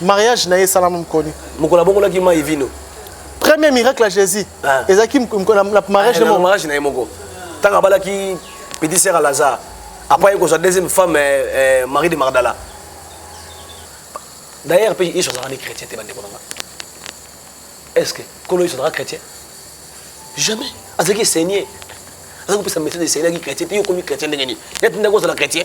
mariage na ye esalama mokoni mokolo abongolaki mai vino premier miracle ya jésus ah. ezalaki na mariage ah, mariage na ye moko ntango abalaki petit sœur ya lazare après ekozwa deuxième femme eh, eh, marie de magdala d'ailleurs mpe yesu azalaka nde chrétien te bandeko na nga est ce que kolo yesu azalaka chrétien jamais azalaki seigneur azalaki kopesa message esengeli yaki chrétien te yo okomi chrétien ndenge nini neti ndako ozala chrétien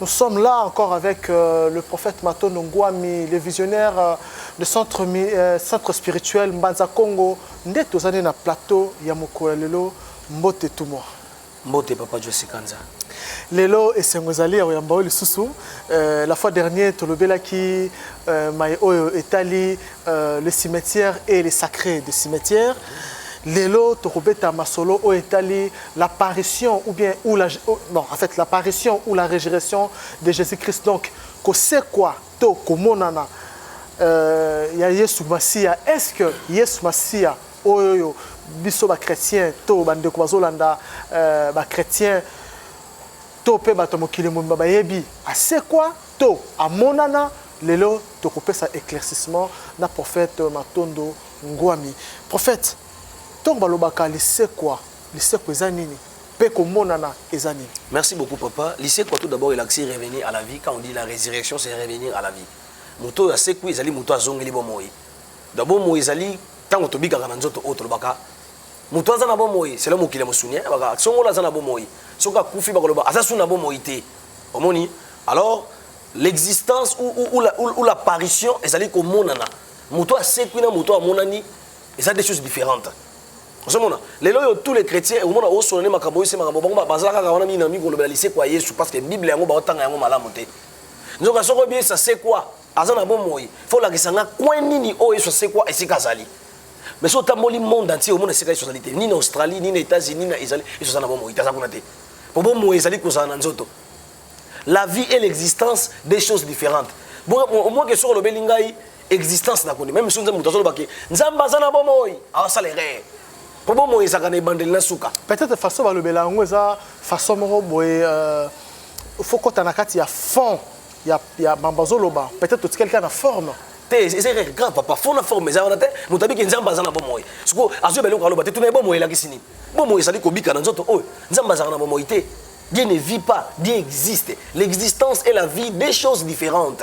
Nous sommes là encore avec euh, le prophète Matondo Ngwami, le visionnaire euh, de centre, euh, centre spirituel Mbanza Congo. Nde tozali na plateau ya mokolo lelo mbote tout moi. Mbote papa Josi Kanza. Lelo esengo ezali ya koyamba oyo lisusu euh, la fois dernière tolobelaki euh, mai oyo etali euh, le cimetière et les sacrés de cimetière. Lelo tokobeta masolo oyo etali L'apparition ou bien ou la oh, non en fait l'apparition ou la résurrection de Jésus-Christ donc kosekwa to komonana euh, ya Yesu Masiya est-ce que Yesu Masiya oyo oyo biso ba chrétiens to bandeko bazolanda euh, ba chrétiens to mpe bato ya mokili mobimba bayebi asekwa to amonana lelo tokopesa éclaircissement na prophète matondo ngwami prophète Tango balobaka lisekwa, lisekwa eza nini? Pe komonana eza nini? Merci beaucoup papa, lisekwa tout d'abord elakisi revenir à la vie, quand on dit la resurrection c'est revenir à la vie, moto oyo asekwi ezali moto oyo azongeli bomoi, donc bomoi ezali tango tobikaka na nzoto oyo tolobaka moto aza na bomoi, selon mokili ya mosuni hein, baka songolo aza na bomoi, soki akufi bakoloba aza su na bomoi te, omoni alors l'existence ou, ou, ou, la, ou, ou l'apparition ezali komonana, moto oyo asekwi na moto oyo amonani eza des choses différentes ozomona lelo oyo tous les chrétiens okomona osolo nde makambo oyo se makambo bango bazala kaka wana mingi na mingi kolobela lisekwa ya yesu parce que bible yango baotanga yango malamu te nzoka soki oyebi yesu asekwa aza na bomoi fo olakisa nga coin nini oyo yesu asekwa esika azali mais soki otamboli monde entier omona esika yesu azali te ni na australie ni na états-unis na ezali yesu aza na bomoi te aza kuna te mpo bomoi ezali kozala na nzoto la vie et l'existence des choses différentes omwake soki olobeli ngai existence na koni meme soki nzambe moto azoloba ke nzambe aza na bomoi awasala erreur mpo bomoi ezalaka na ebandeli na suka peut-être façon balobela yango eza façon moko boye euh, faut kota na kati ya fond ya, ya mambo azoloba peut-être totikali kaka na forme te eza erreur grave papa fond na forme eza wana te moto abiki nzambe aza na bomoi siko azoyeba eloko aloba te tuna ye bomoi elakisi nini bomoi ezali kobika na nzoto oyo nzambe azalaka na bomoi te Dieu ne vit pas, Dieu existe. L'existence et la vie, deux choses différentes.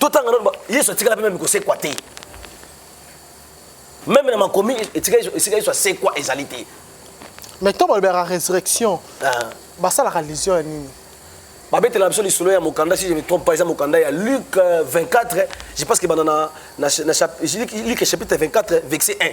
totanga nano yesu atikala mpe meme kosekwa te meme na makomi esika yesu asekwa ezali te mais ntango balobelaka résurrection ah. basalaka allusion ya nini babetela biso lisolo ya mokanda si je me trompe pas eza mokanda ya luc 24 euh, je pense que banda na, na, na luc chapitre 24 verset 1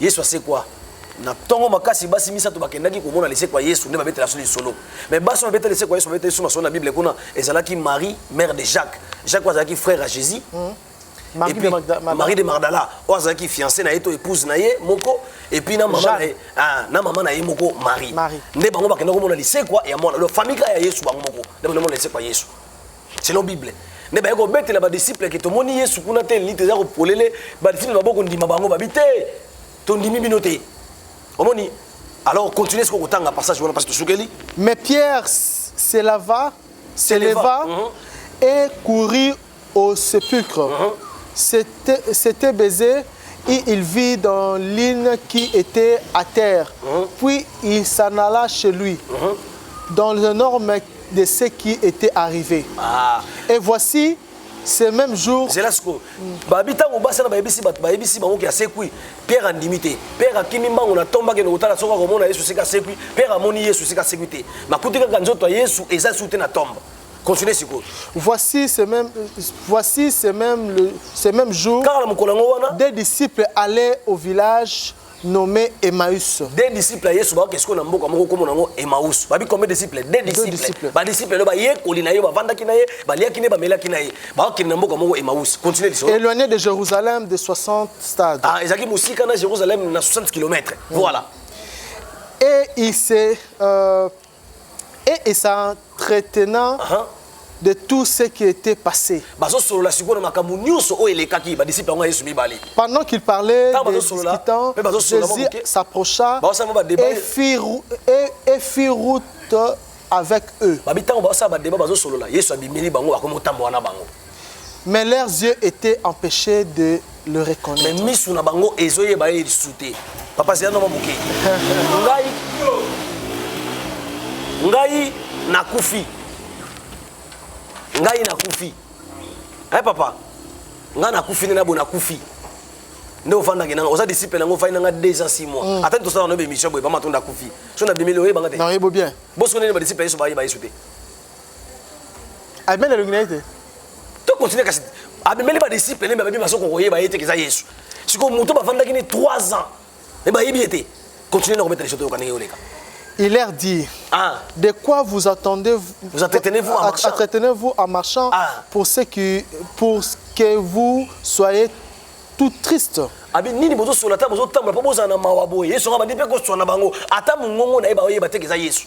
Yesu asekwa na ntongo makasi basi misato bakendaki komona lisekwa yesu nde babetela biso lisolo mais basi oyo babetela lisekwa yesu babetela biso masolo na bible kuna ezalaki marie mère de jacques jacques oyo azalaki frère ya jésus mm. Marie, puis, de Magda, Magda. Marie de Magdala oyo azalaki fiancé na ye to épouse na ye moko epuis na mama na ye ah, na mama na ye moko marie nde bango bakenda komona lisekwa ya mwana lo famille kaka ya yesu bango moko nde bakomona lisekwa ya yesu selon bible nde baye kobetela badisiple ke tomoni yesu kuna te elite eza kopolele badisiple babo kondima bango babi te tondimi bino te omoni alors continue siko kotanga passage wana parce tosukeli mais pierre se lava se leva mhm. et courut au sépulcre mhm. c'était baisé et il vit dans l'île qui était à terre mhm. puis il s'en alla chez lui dans un homme de ce qui était arrivé. Ah. Et voici ce même jour. C'est là ce que. Babi tango basa na bayebisi bat bayebisi bango ki asekwi. Pierre andimi te. Pierre akimi mbango na tomba ke nokotala soka komona Yesu sika sekwi. Pierre amoni Yesu sika sekwi te. Makuti kaka nzoto ya Yesu eza sute na tomba. Continuez siko. Voici ce même voici ce même le ce même jour. Car la mokolo yango wana. Des disciples allaient au village nomme Emmaüs. Des disciples ya Yesu baoke sikoyo na mboka moko kombo nango Emmaüs. Babi combien de disciples? Des disciples. Ba disciples lo bayekoli na ye bavandaki na ye, baliaki na ye, bamelaki na ye. Baokende na mboka moko Emmaüs. Continue lisolo. Éloigné de Jérusalem de 60 stades. Ah, ezalaki mosika na Jérusalem na 60 km. Voilà. Et il s'est euh, et et ça entretenant uh -huh. de tout ce qui était passé. bazosolola sikoyo na makambo nyonso oyo elekaki badisiple yango ya yesu mibale Pendant qu'il parlait, Ntango des bazosolola, discutants, mpe bazosolola mwa Jésus moke. s'approcha Bazosala mwa badeba. et fit, rou- et- et fit route avec eux. babi ntango bazosala badeba bazosolola yesu abimeli bango akomi kotambola na bango Mais leurs yeux étaient empêchés de le mais reconnaître. misu na bango ezoyeba ye lisu te papa zela noma moke ngai ngai nakufi ngai nakufi e papa ngai nakufi nde nabo nakufi nde ofandaki nanga oza disciple nango ofandi nanga 2 ans 6 mois ata nde tosala nobe émission boye bamatonda akufi so na bimeli oyebanga te Non, il est beau bien. bosiko nini badisciple ya yesu bayeba yesu te abimeli elongi na ye te tokontinue kasi abimeli badisiple nde babi baso kokoyeba ye te keza yesu sikoyo moto bafandaki ne 3 ans me bayebi ye te continue na kobeta lisoto yoka ndenge yoleka Il leur dit, ah. de quoi vous attendez vous, vous entretenez-vous en marchant, entretenez-vous en marchant ah. pour, ce qui, pour que vous soyez tout triste. abi nini bozosola ata bozotambola mpo bozala na mawa boye yesu anga bandi mpe koswana bango ata mongongo na ye baoyeba te keza yesu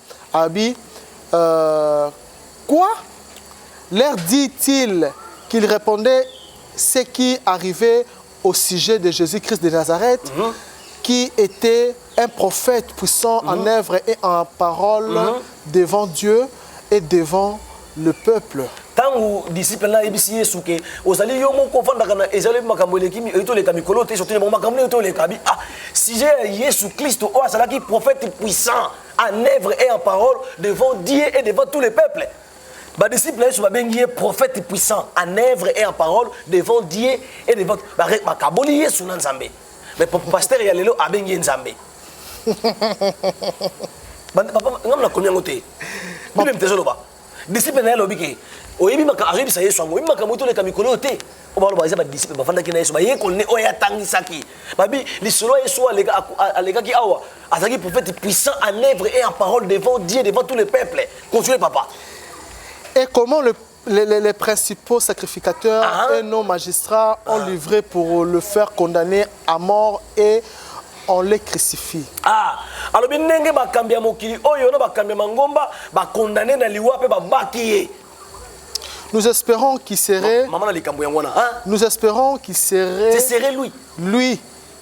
Abi, euh, quoi Leur dit-il qu'il répondait ce qui arrivait au sujet de Jésus-Christ de Nazareth, mm -hmm. qui était un prophète puissant mm -hmm. en mhm. œuvre et en parole mm -hmm. devant Dieu et devant le peuple. ntango disciple na ayebisi yesu ke ozali yo moko ofandaka na ezali makambo eleki etoleka mikolo te sotelema makambo nini etoleka bi ah sujet ya yesu kristo oyo azalaki prophète puissant en œuvre et en parole devant Dieu et devant tous les peuples. badisciple na yesu babengi ye prophète puissant en œuvre et en parole devant dieu et devant bakaboli yesu na nzambe mais pasteur ya lelo abengi ye nzambe ngambo nakomi yango te bino mpe ezoloba Disciple na ye alobi ke oyebi makambo ayebisa Yesu yango oyebi makambo oyo toleka mikolo oyo te oyo baloba eza badisiple bafandaki na Yesu bayekoli nde oyo atangisaki babi lisolo ya Yesu alekaki awa azalaki prophète puissant en œuvre et en parole devant Dieu devant tous les peuples continue papa et comment le les, les, les, principaux sacrificateurs ah. et nos magistrats ont ah. livré pour le faire condamner à mort et on les crucifie. Ah, alobi ndenge bakambi ya mokili oyo na bakambi ya mangomba ba condamner na liwa pe babaki ye. Nous espérons qu'il serait Maman na likambo yango wana. Hein? Nous espérons qu'il serait C'est serré lui. Lui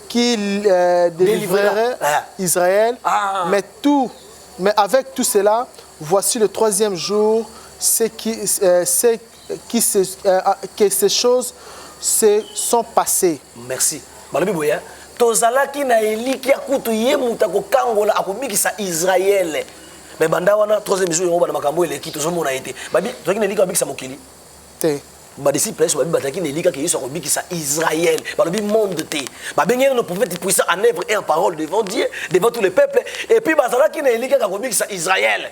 qui euh, délivrerait ah. Israël ah. mais tout mais avec tout cela voici le troisième jour c'est qui euh, c'est qui se euh, ah, que ces choses se sont passées merci balobi boye hein. tozalaki na elikya kutu ye moto akokangola akobikisa israele me banda wana troisième jour yango bana makambo eleki tozomona ye te tozalaki na elikya babikisa mokili te badisciple yesu babi bazalaki na elika ke yesu akobikisa israel balobi monde te babengeli no prophète puissant en œuvre et en parole devant dieu devant tous les peuples et puis bazalaki na elika kakobikisa israel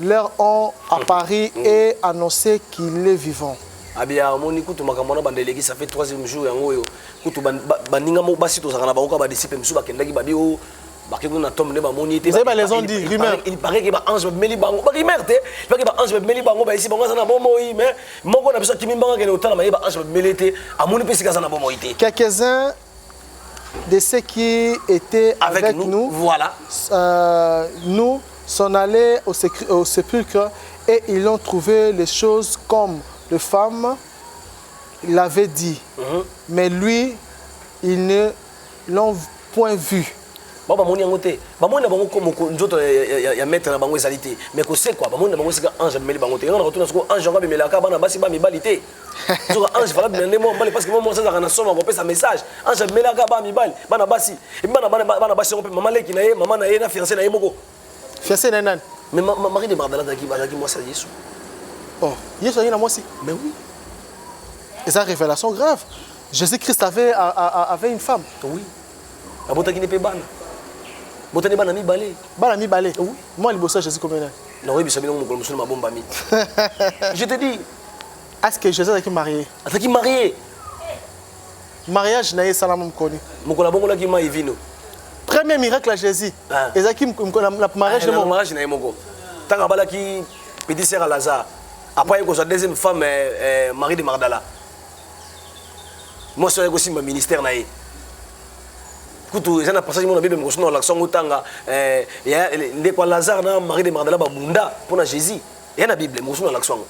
Leur ont à Paris et annonce qu'il est vivant. abia amoni kutu makambo wana banda eleki ça fait troisième jour yango oyo kutu ban- ba- baninga moko basi tozalaka na bango kaka badisiple mosusu bakendaki babi o bake kuna na tombe nde bamoni ye te Vous avez ba raison, Il- dit, il- rumeur. il paraît que baange babimeli bango barimeur te pake baange babimeli bango bayesi bango aza na bomoi mais moko na biso akimi mbanga kende kotala maye baange babimeli ye te amoni mpe esika aza na bomoi te Quelques-uns de ceux qui étaient avec, avec nous, nous, voilà. Euh, nous sont allés au, au sépulcre et ils ont trouvé les choses comme les femmes l'avaient dit. Mm -hmm. Mais lui, ils ne l'ont point vu. bango bamoni yango te bamoni na bango komoko nzoto ya maître na bango ezali te mais kosekwa bamoni na bango esika ange amemeli bango te yango na kotuna soko ange yango amemelaka bana basi bamibali te nzoka ange valable na nde mwa mobali parce que mwa mwasi azalaka na soma kopesa message ange amelaka bana mibali bana basi epi bana bana basi yango mpe mama leki na ye mama na ye na fiancé na ye moko fiancé na ye nani mais marie de magdala azalaki mwasi ya yesu oh yesu azalaki na mwasi mais oui eza révélation grave jésus christ avait, avait une femme oui abotaki nde mpe bana botani bana mibale bana mibale oui mwa liboso ya jésus komena nakoyebisa bino mokolo mosusu na mabombami je te dis Est-ce que Joseph azalaki marié? Azalaki marié. Mariage na ye esalama mokoni. Mokolo abongolaki mai vino. Premier miracle ya Jésus ah. ezalaki na mariage ah, na mariage na ye moko. Ntango abalaki petit sœur ya Lazare. Après akozwa deuxième femme eh, eh, Marie de Magdala. Mwasi oyo akosimba ministère na ye. kutu eza na passage mona bible mokosi na olakisa yango otanga eh, ndeko ya lazare na marie de magdala babunda mpo na jésus ya na bible mosusu nalakisa yango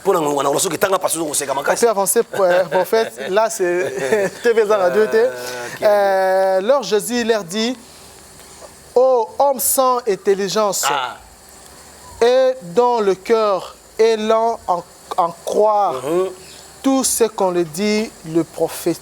mpo na ngonga nakola soki etanga pasi ozokoseka makasi avancé euh, prophète là c'est tv eza radio te ah, euh, leur jésus leur dit oh homme sans intelligence ah. et dont le cœur est lent en, en croire mm -hmm. tout ce qu'on le dit le prophète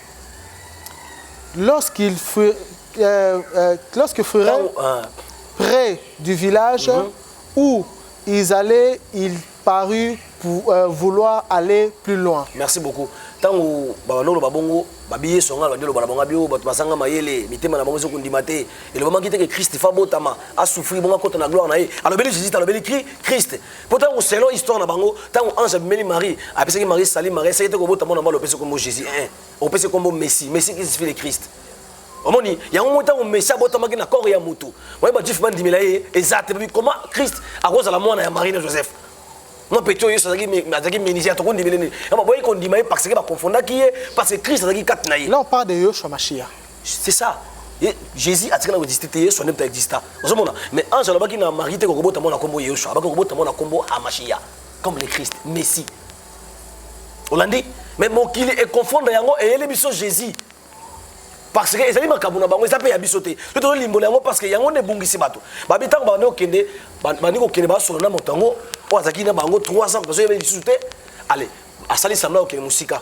lorsqu'il fut euh, euh, lorsque ferait Ntango, ah, près du village où ils allaient, il parut pour euh, vouloir aller plus loin. merci beaucoup ntango babanda oloba bongo babi yesu anga babandi oloba na bango bio bato bazanga mayele mitema na bango ezo kondima te elobamaki te ke krist fa abotama asufri bongo akota na gloire na ye alobeli jésus te alobeli Kri- krist mpo ntango selon histoire na bango ntango ange abimeli marie apesaki marie sali marie esaki te kobota mwana mbala opesi nkombo jésus e opesi nkombo messi messi kisifie le christ omoni yango moi ntango messi abotamaki na corps ya motu oye bajuif bandimela ye eza te comment christ akozala mwana ya marie na joseph mwa peti oyo yesu azalaki menisien tokondimela nini boyei kondima ye parce ke bakonfondaki ye parce que christ azalaki kati na ye là on parle de yoshua mashia c'est ça Ye, jésus atikala koexiste te yesu anempe exista ozomona mais ange alobaki na marie te kokobota mwana nkombo yesu abaki kokobota mwana nkombo amashia comme le christ messi olandi mais mokili econfondre yango eyeli biso jésus parce que ezali makambo na bango eza mpe ya biso te to tozolimbola yango parce que yango nde ebungisi bato babi ntango bandi kokende bandi kokende basolo na moto yango oyo azalaki na bango 3 ans bazoyeba lisusu te ale asali sembla kokende mosika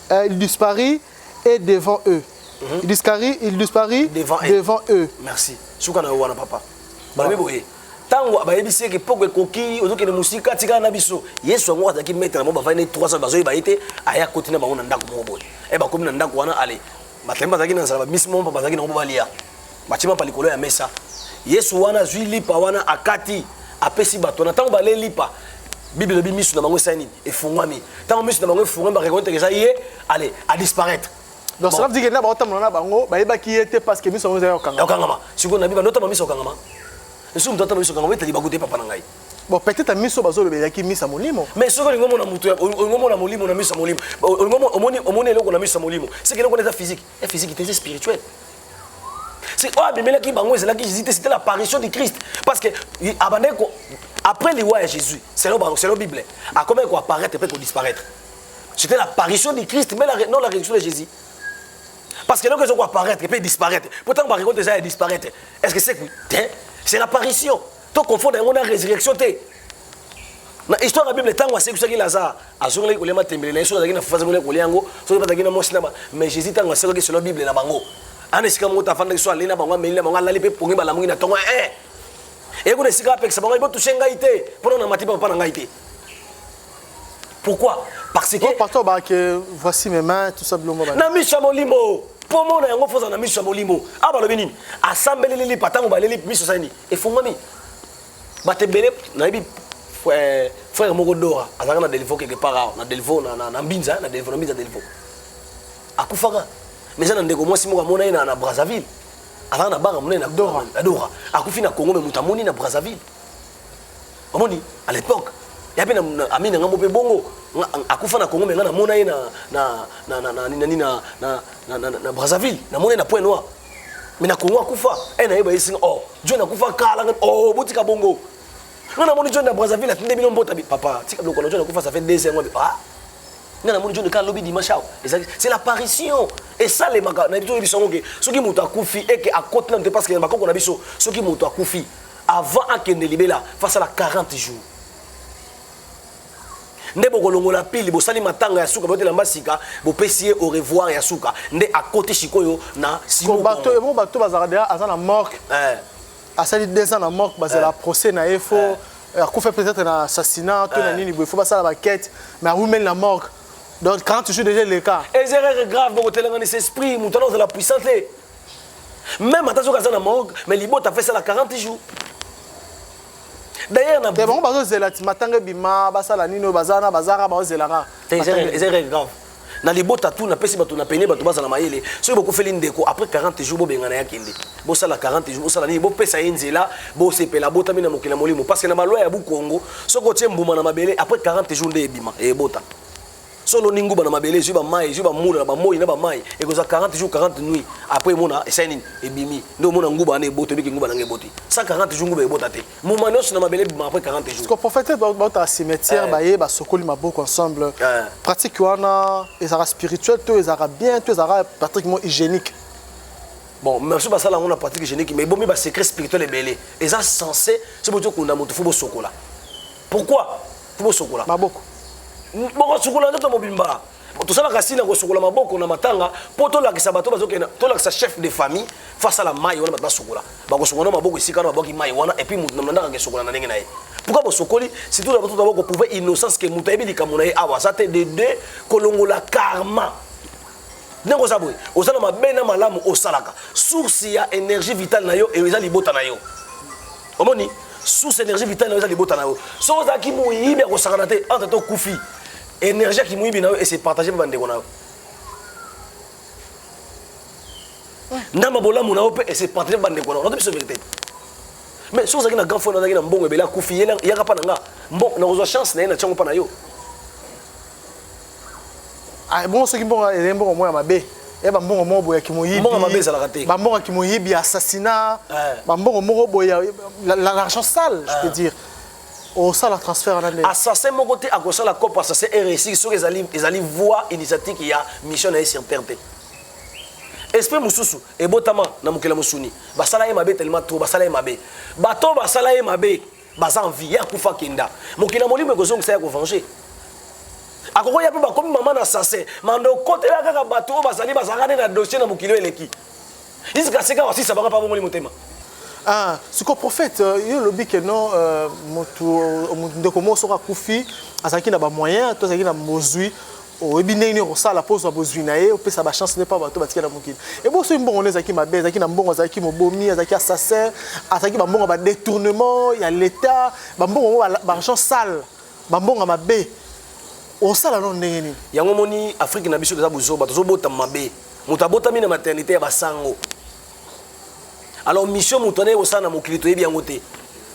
Euh, il disparit et devant eux. Mm -hmm. Il disparit, il disparit devant, devant eux. Merci. Suka na wana papa. Balobi boye. Tango bayebisi ke poko ekoki ozokende musika tika na biso. Yesu yango azalaki maître na mo bavandi 300 bazoyi bayete aya koti na bango na ndako moko boye. Eh bakomi na ndako wana ale. Batemba azalaki na nzala bamisi moko bazalaki na ngo balia. batie mapa likolo ya mesa yesu wana azwi lipa wana akati apesi bato wana ntango balee lipa bible elobi miso na bango esali nini efungwami ntango miso na bango efungwami barekonete eza ye ale adisparaître donc cela veut dire que na baotambola na bango bayebaki ye te parce que miso yango ezali kokangama okangama sikoyo na biba notamba miso okangama nsuku moto atamba miso okangama etali bakuta ye papa na ngai bon peut-être miso bazolobelaki miso ya molimo mais soki olingi omona moto olingi omona molimo na miso ya molimo omoni eloko na miso ya molimo seke eloko wana eza physique ya physique te eza spirituel C'est oyo abimelaki bango ezalaki Jésus c'était l'apparition du Christ parce que abandaki ko après liwa ya Jésus selon bango selon Bible akomaki ko apparaître pe ko disparaître. C'était l'apparition du Christ mais la, non la résurrection de Jésus. Parce que eloko ezokoka apparaître mpe disparaître mpo ntango barekolte eza ya disparaître est ce que sekwi te c'est l'apparition to confondre yango na résurrection te na histoire ya bible ntango asekwisaki lazare azongelaki kolia matembele na ye soki azalaki na fufu azongelaki kolia yango soki bazalaki na mwasi na ba mais jésus ntango asekwaki selo bible na bango ana esika moko tafandaki so alei na bango ameli na bango alali mpe pongi balamuki na ntongo e eye kuna esika apekisa bango botushe ngai te mpona na mati papa na ngai te pourquoi parce que oh, pasteur ba que voici mes mains tout ça bilongo ba na miso ya molimo mpo omona yango fozala na miso ya molimo a balobi nini asambeleli lipa ntango baleli miso sani efungwami bato ebele nayebi eh, frère moko dora azalaka na delivaux quelque part awa na delivaux na mbinza na delivaux na mbinza delivaux akufaka mais eza na ndeko mwasi moko amona ye na brazzaville azalaka na banga monene na dora akufi na congo me moto amoni na brazzaville omoni à l'époque ya mpe ami na ngai mo mpe bongo akufa na congo me ngai namona ye na brazzaville namona ye na point noir mais na congo akufa e na ye bayesinga o oh, john akufa kala o oh, botika bongo nga namoni john na brazzaville atinde bino mbota papa tika biloko na john akufa ça fait deux ans ah nga namoni john kala lobi dimanche awa ezali c'est l'apparition esalemaka na biso yebiso yango ke soki moto akufi eke akoti nanu te parce que na bakoko na biso soki moto akufi avant akende libela fasala 40 jours nde bokolongola pili bosali matanga ya suka botela mbasika bopesi ye au revoir ya suka nde akoti sikoyo na bato ebo bato bazalaka deja aza na morke eh. asali deux ans na morke bazela eh. procès na ye fo eh. akufa peut-être na assassinat to na nini boye fo basala baquete mais awumeli na morke donc quand tu suis déjà le cas les erreurs graves bokotelanganisa esprit moto wana ozala puissant te même ata soki aza na morgue mais libota afesala 40 jours D'ailleurs, na bango bazo zela ti matanga bima basala nini oyo bazana bazara bazo zela ka. C'est vrai grave. Na libota tout na pesi bato na pene bato bazala mayele. Soki bokufeli ndeko après 40 jours bobengana ya kende. Bosala 40 jours bosala nini bopesa ye nzela bosepela botami na mokili na molimo parce que na balwa ya bu Congo soki otie mbuma na mabele après 40 jours nde ebima ebota. so oloni nguba na mabele ezwi bamai ezwi bamula na bamoi na bamai ekozwa 40 jours 40 nuit après emona esali nini ebimi nde omona nguba wana ebota ebiki nguba nanga eboti 140 jours nguba ebota te moma nyonso na mabele ebima après 40 jours ko prophète bauta cimetière eh. baye basokoli maboko ensemble eh. pratique wana ezalaka spirituel to ezalaka bien to ezalaka pratiquement hygiénique bon merci basala yango na pratique hygiénique mais ebomi basecret spirituel ebele eza censé so botokunda moto fo bosokola pourquoi bosokola maboko bokosukola nzoto mobimba tosalaka sina kosukola maboko na matanga mpo tolakisa bato bazokenda tolakisa chef de famille fo asala mai wana bato basukola bakosukola na maboko esika wana babwaki mai wana epuis moto na mlandaka akesukola na ndenge na ye pourkui bosokoli surtout na bato taba koprouve innocence ke moto ayebi likambo na ye awa aza te de de kolongola karma ndenge oza boye oza na mabe na malamu osalaka source ya énergie vitale na yo eza libota na yo omoni source énergie vitale na yo eza libota na yo soki ozalaki moyibi ya kosakana te entre to okufi énergie ya kimoyibi na yo ese partage mpe bandeko na yo ndamba bolamu na yo mpe ese partage mpe bandeko na yo nato biso verité mais soki ozalaki na grand frère nazalaki na mbongo ebele akufi yaka mpa na nga nakozwa chance na ye na tiango mpa na yo Ah, bongo soki mbongo ezali mbongo moko ya mabe ya bambongo moko boye ya kimoyibi bambongo ya kimoyibi ya assassinat eh. bambongo moko boye ya l'argent sale je peux eh. dire osala transfert wana nde assassin moko te akosala cope assassin eresi soki ezali ezali voie initiatique ya mission na ye sur terre te esprit mosusu ebotama na mokili ya mosuni basala ye mabe telema tro basala ye mabe bato basala ye mabe baza en vie ye akufa kenda mokili ya molimo ekozongisa ya kovange akokoya mpe bakomi mama na sase manda okotela kaka bato oyo bazali bazalaka nde na dossier na mokili oyo eleki iska seka wasisa banga pabongoli motema Ah, siko prophète euh, yo olobi ke non euh, motu euh, ndeko moko soki akufi azalaki na bamoyen to azalaki na mozwi oyebi ndenge nini okosala mpo ozwa bozwi na ye opesa bachance nde mpo bato batikala mokili ebo soki mbongo nde ezalaki mabe ezalaki na mbongo azalaki mobomi azalaki assassin azalaki bambongo badetournement ya leta bambongo yango baargent sale bambongo mabe osala no ndenge nini yango omoni afrike na biso toza bozoba tozobotama mabe moto abotami na maternité ya basango alors mission moto anaye kosala na mokili toyebi yango te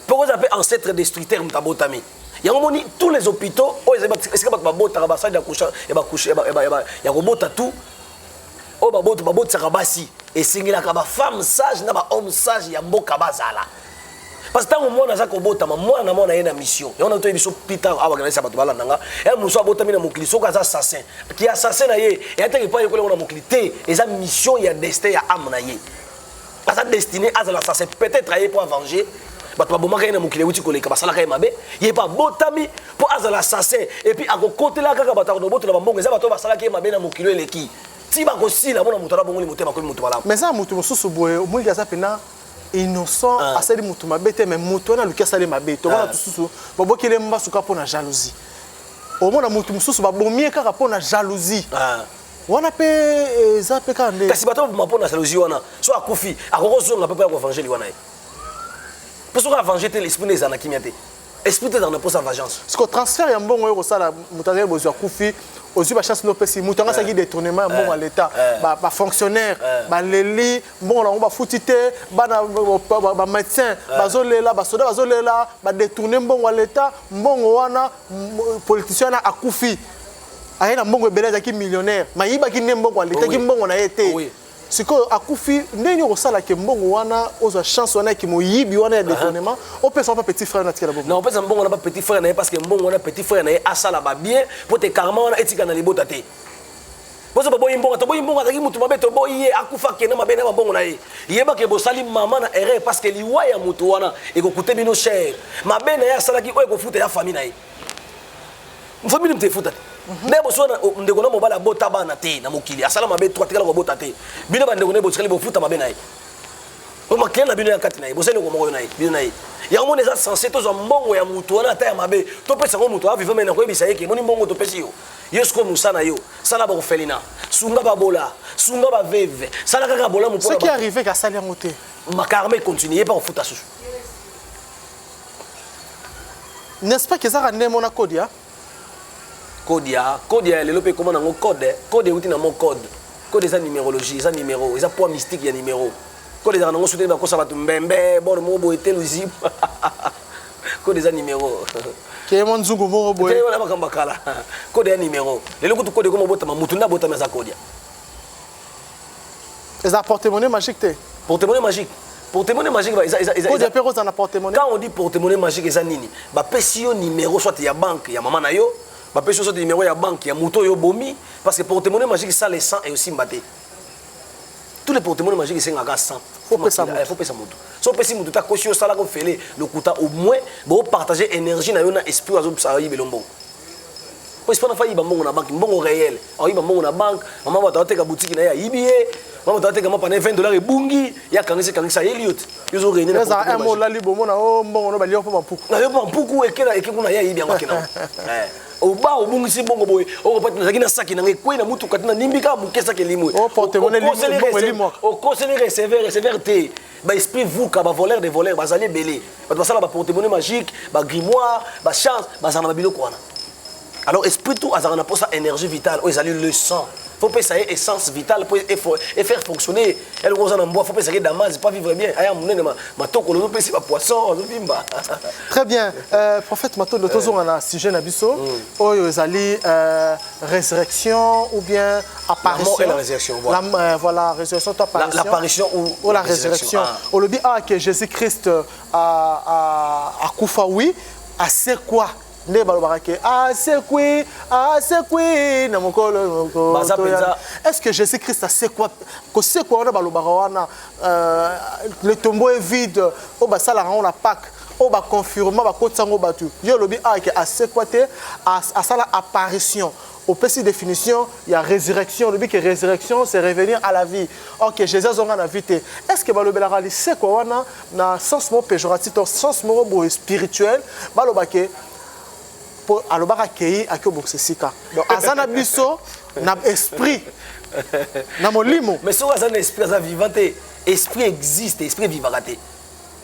mpo oza mpe ancetre destructeur moto abotami yango moni tous les hôpitaux oyo ezali esika bato babotaka basali ya kobota tout oyo babotisaka basi esengelaka bafemme sage na bahomme sage ya mboka bazala parce que ntango mwana aza kobotama mwana na mwana ye na mission yango nato biso pita awa kanalisa bato balanda nga ya mosu abotami na mokili soki aza assassin ki assassin na ye eyataki epai yekola yango na mokili te eza mission ya destin ya ame na ye aza destiné azala assassin peut-être aye mpo avenger bato babomaka ye na mokili euti koleka basalaka ye mabe ye mpe abotami mpo azala assassin epuis akokotela kaka bato akonobotola bambongo eza bato oyo basalaki ye mabe na mokili eleki ti bakosila mona moto alabongoli motema akomi moto malamu mais eza moto mosusu boye omoniki aza mpena innocent asali mutu mabe te mais mutu wana aluki asali mabe tomona tususu babokeli mbasu kaka mpo na jalousie omona mutu mosusu babomi ye kaka mpo na jalousie wana mpe eh, eza mpe kaka nde kasi bato baboma mpo na jalousie wana so akufi akokozonga mpe mpo ya koevangeli wana ye mpo soki avange te l'esprit nde eza na kimia te esprit te ezalaka na mposa vengeance siko transfert ya mbongo oyo kosala moto azali bozwi akufi ozwi bachance nde opesi moto yango asalaki eh. détournement ya mbongo ya eh. leta eh. bafonctionnaire baleli mbongo na yango bafuti te bana bamédecin bazolela basoda bazolela badetourne mbongo ya leta mbongo wana politicien wana akufi aye na mbongo ebele azalaki millionnaire mayibaki nde mbongo aletaki mbongo na ye te sikoyo akufi ndenge okosala ke mbongo wana ozwa chance wana ya kimoyibi wana ya detournement opesa pa petit frère na tikela bomo non opesa mbongo na ba petit frère na ye parce que mbongo wana petit frère na ye asala ba bien po te karma wana etika na libota te bozo boboyi mbongo toboyi mbongo azalaki motu mabe toboyi ye akufa kende mabe na mabongo na ye yebake bosali mama na erreur parce que liwa ya motu wana ekokute bino cher mabe na ye asalaki oyo ekofuta ya famille na ye famille moto efuta te mhm. me boso ndeko na mobali abota bana te na mokili asala mabe to atikala kobota te bino bandeko na ye botikali bofuta mabe na ye omakele na bino ya kati na ye bozali ndeko moko na ye bino na ye yango moni eza sense tozwa mbongo ya moto wana ata ya mabe topesa yango moto aviva mai nakoyebisa ye ke moni mbongo topesi yo yo sikoyo mosa na yo sala bakofelina sunga babola sunga baveve sala kaka bolamu mpo soki arrive kasali yango te makarma ekontinue ye mpe akofuta susu n'est-ce pas kezaka nde mona kodia kodia kodia ya lelo mpe ekoma nango code eh. code euti na mo code code eza numérologie eza numéro eza poids mystique ya numéro code ezaka nango souteni bakosa bato mbembe bor mo boye te luzibu code eza numéro keye mwa nzungu moko boye wana makambo ya kala code ya numéro lelo kutu code ekoma obotama motu nde abotami aza kodia eza porte-monnaie magique te porte-monnaie magique porte-monnaie magique bah, eza eza eza eza pe kozana porte-monnaie quand on dit porte-monnaie magique eza nini ba pesi yo numéro soit ya banque ya maman na yo ba pesi yo soit numéro ya banque ya moto yo bomi parce que porte-monnaie magique ça le sang et aussi mbaté tous les porte-monnaie magique esengaka sang faut pesa moto faut pesa moto so pesi moto ta kosi osala ko fele lokuta au moins bo partager énergie na yo na esprit azo sa yibelo mbongo po esprit na fa yiba mbongo na banque mbongo réel ayiba mbongo na banque mama bato ateka butiki na ye ayibi ye mama bato ateka mapa na ye 20 dollars ebungi ye akangisi kangisa ayeli yo te yozo rene na eza mo lali bomona o oh, mbongo no bali yo mpo bampuku na yo mpo bampuku ekela eke kuna ye ayibi yango akenda eh, oba obungisi bongo boye okopati nazalaki na saki na ngai ekwei na motuka te na nimbi kaka moke saki elimwe oh, okoseli receveur receveur te ba esprit vuka ba voleur de voleur bazali ebele bato basala ba portemone magique ba grimoire ba chance bazala na babiloko wana alors esprit tout azalaka na mposa énergie vitale oyo ezali le sang faut pesa ye essence vitale mpo e faire fonctionner eloko oza na mbwa faut pesa ye damage pas vivre bien aya monene matoko lozo pesi ba poisson azovimba très bien euh, prophète matondo tozonga na sujet na biso mm. oyo ezali euh, résurrection ou bien apparition la, résurrection, voilà. La, euh, voilà, résurrection toi apparition l'apparition la, ou, ou la résurrection, résurrection. Ah. olobi ah que Jésus Christ euh, a a a kufa oui a c'est quoi nde balobaka ke asekwi ah, asekwi ah, na mokolo est ce que jésus christ asekwa kosekwa wana balobaka wana euh, le tombeau est vide oyo oh, basalaka yango na pake oyo oh, baconfirma bakotisa yango bato yo olobi ake ah, asekwa te asala apparition opesi définition ya résurrection olobi ke résurrection c'est revenir à la vie or que jésus azonga na vie te est ce que balobelaka lisekwa wana na sens moko péjoratif to sens moko boye spirituel baloba ke mpo alobaka akei akei obongisa esika donc aza na biso na esprit na molimo mais soki aza na esprit aza vivant te esprit existe esprit evivaka te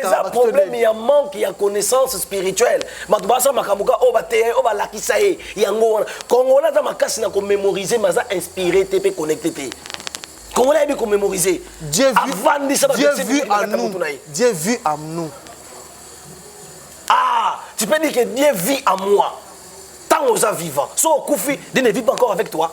eza problème ya manque ya connaissance spirituelle bato basala makambo ka oyo bateya ye oyo balakisa ye yango wana congolais aza makasi na komémorise mais aza inspiré te mpe connecté te congolais ayebi komémorise avandisa bato na ye dieu vu à nous ah tu peux dire que dieu vit à moi ntango oza vivant so okufi dieu ne vit pas encore avec toi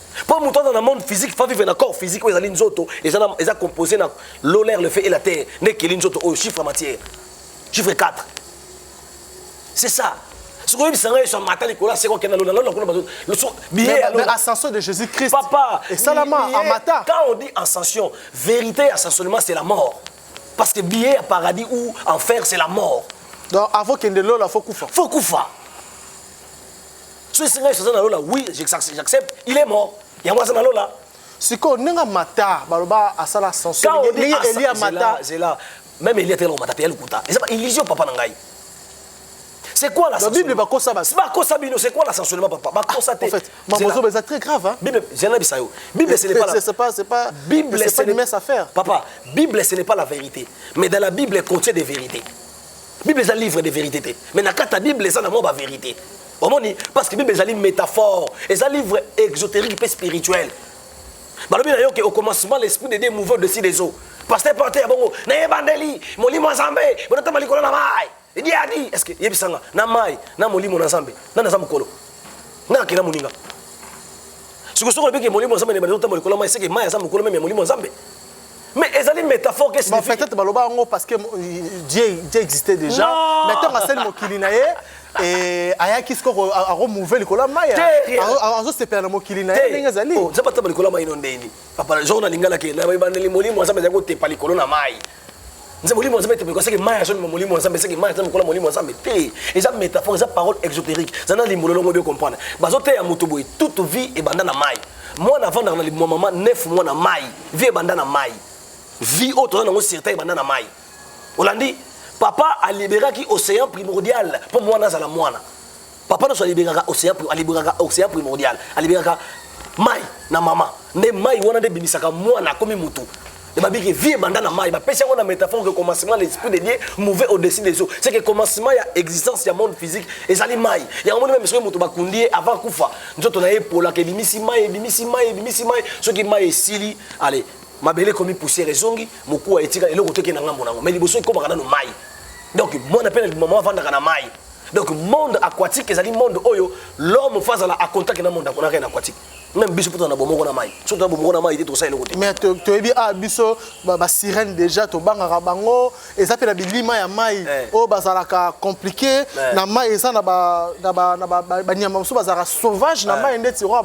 Pour mutu dans le monde physique faut vivre na corps physique oyo ezali nzoto eza eza composé na l'eau l'air le feu et la terre nde ekeli nzoto oyo chiffre matière chiffre 4 c'est ça soki oyebisa ngai yesu amata likolo aseka okenda lola lola kuna bazo biye ya lola ascension de jésus christ papa esalama amata quand on dit ascension vérité ya ascensionnement c'est la mort parce que biye ya paradis ou enfer c'est la mort donc avant kende lola faut kufa faut kufa soki esenga yesu aza na lola oui j'accepte il est mort yango aza na lola sikoyo ndenge amata baloba asala ascension ndenge elia amata zela même elia te elomata mpe ya lokuta eza ba illusion papa na ngai c'est quoi la la bible bakosa basi bakosa bino c'est quoi la sanctionnement papa bakosa ah, te en fait maman zoba c'est très grave hein bible zela bisa yo bible ce n'est pas c'est pas c'est pas bible c'est pas une messe à faire papa bible ce n'est pas la vérité mais dans la bible contient des vérités bible eza livre de vérité te mais na kati ya bible eza na mwa ba vérité omoni parce que bible ezali métaphore eza livre exotérique mpe spirituel balobi na yo ke au commencement l'esprit de dieu mouvant dessus des eaux pasteur porte ya bongo na ebandeli molimo ya nzambe bonatama likolo na mai edi adi est ce que yebisa nga na mai na molimo na nzambe nani aza mokolo nga akela moninga sikoyo soki olobiki molimo ya nzambe na ebandeli otamba likolo ya mai seke mai aza mokolo meme ya molimo ya nzambe Mais ezali métaphore qui signifie. Peut-être baloba yango parce que Dieu, Dieu existait déjà. Non. Mais tant que c'est le mokili na ye, et ayaki siko a remouver likolo ya mai azosepela na mokili na ye ndenge ezali oh, nzambe ataba likolo ya mai no ndeni papa jour na lingala ke na ebandeli molimo nzambe azali kotepa likolo na mai nze molimo ya nzambe te mekoseke mai ya zoni molimo ya nzambe seke mai ya nzambe kola molimo ya nzambe te eza métaphore eza parole exotérique eza na limbolo longo bio comprendre bazoteya moto boye toute vie ebanda na mai mwana avandaka na limwa mama nef mwa na mai vie ebanda na mai vie oyo toza nango certain ebanda na mai olandi papa aliberaki océan primordial mpo mwana azala mwana papa nyonso alibengaka océan alibengaka océan primordial alibengaka mai na mama nde mai wana nde ebimisaka mwana akomi motu ebabiki vie ebanda na mai bapesi yango na métaphore que commencement de l'esprit de dieu mouve au-dessus des eaux c'est que commencement ya existence ya monde physique ezali mai yango moni meme soki moto bakundi ye avant kufa nzoto na ye epolaka ebimisi mai ebimisi mai ebimisi mai soki mai esili ale mabele ekomi poussière ezongi mokuwa etika eloko teke na ngambo na yango mai liboso ekomaka nano mai donc mwana mpe na maman avandaka na mai donc monde aquatique ezali monde oyo l'homme fo azala a contact na monde na rien aquatique même biso mpo tozala na bomoko na mai soki toza bomoko na mai te tokosala eloko te mais toyebi a ah, biso basirene déjà tobangaka bango eza mpe na bilima ya mai eh. oyo bazalaka compliqué eh. na mai eza na banyama mosusu bazalaka sauvage na eh. mai ndeti oyo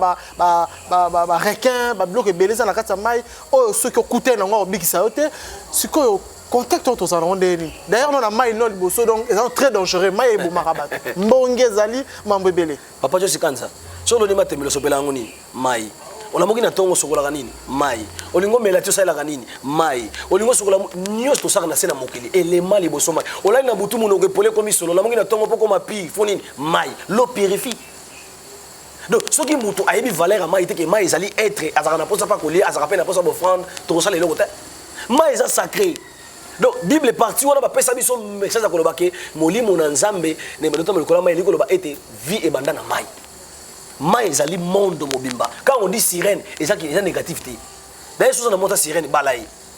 barequin babiloko ebele eza na kati ya mai oyo soki okutani nango akobikisa yo te sikoyo contact oyo tozala yango ndenge nini d'ailleurs nona mai no liboso donc eza très dangereux mai ebomaka bato mbonge ezali mambo ebele papa josi kanza so oloni matemelo osopela yango nini mai olamoki na ntongo osokolaka nini mai olingi omela ti osalelaka nini mai olingi osokola nyonso tosaka na se na mokili elema liboso mai olali na butu monoko epole ekomi solo olamoki na ntongo mpo okoma pire fo nini mai lo purifie donc soki moto ayebi valeur ya mai te ke mai ezali etre azalaka na mposa mpe akolia azalaka mpe na mposa bofrande tokosala eloko te mai eza sacré donc bible parti wana bapesa biso message ya koloba ke molimo na nzambe na ebandota molikola mai elingi koloba ete vie ebanda na mai mai ezali monde mobimba quand on dit sirène eza eza négatif te daye soza na mota sirène bala ye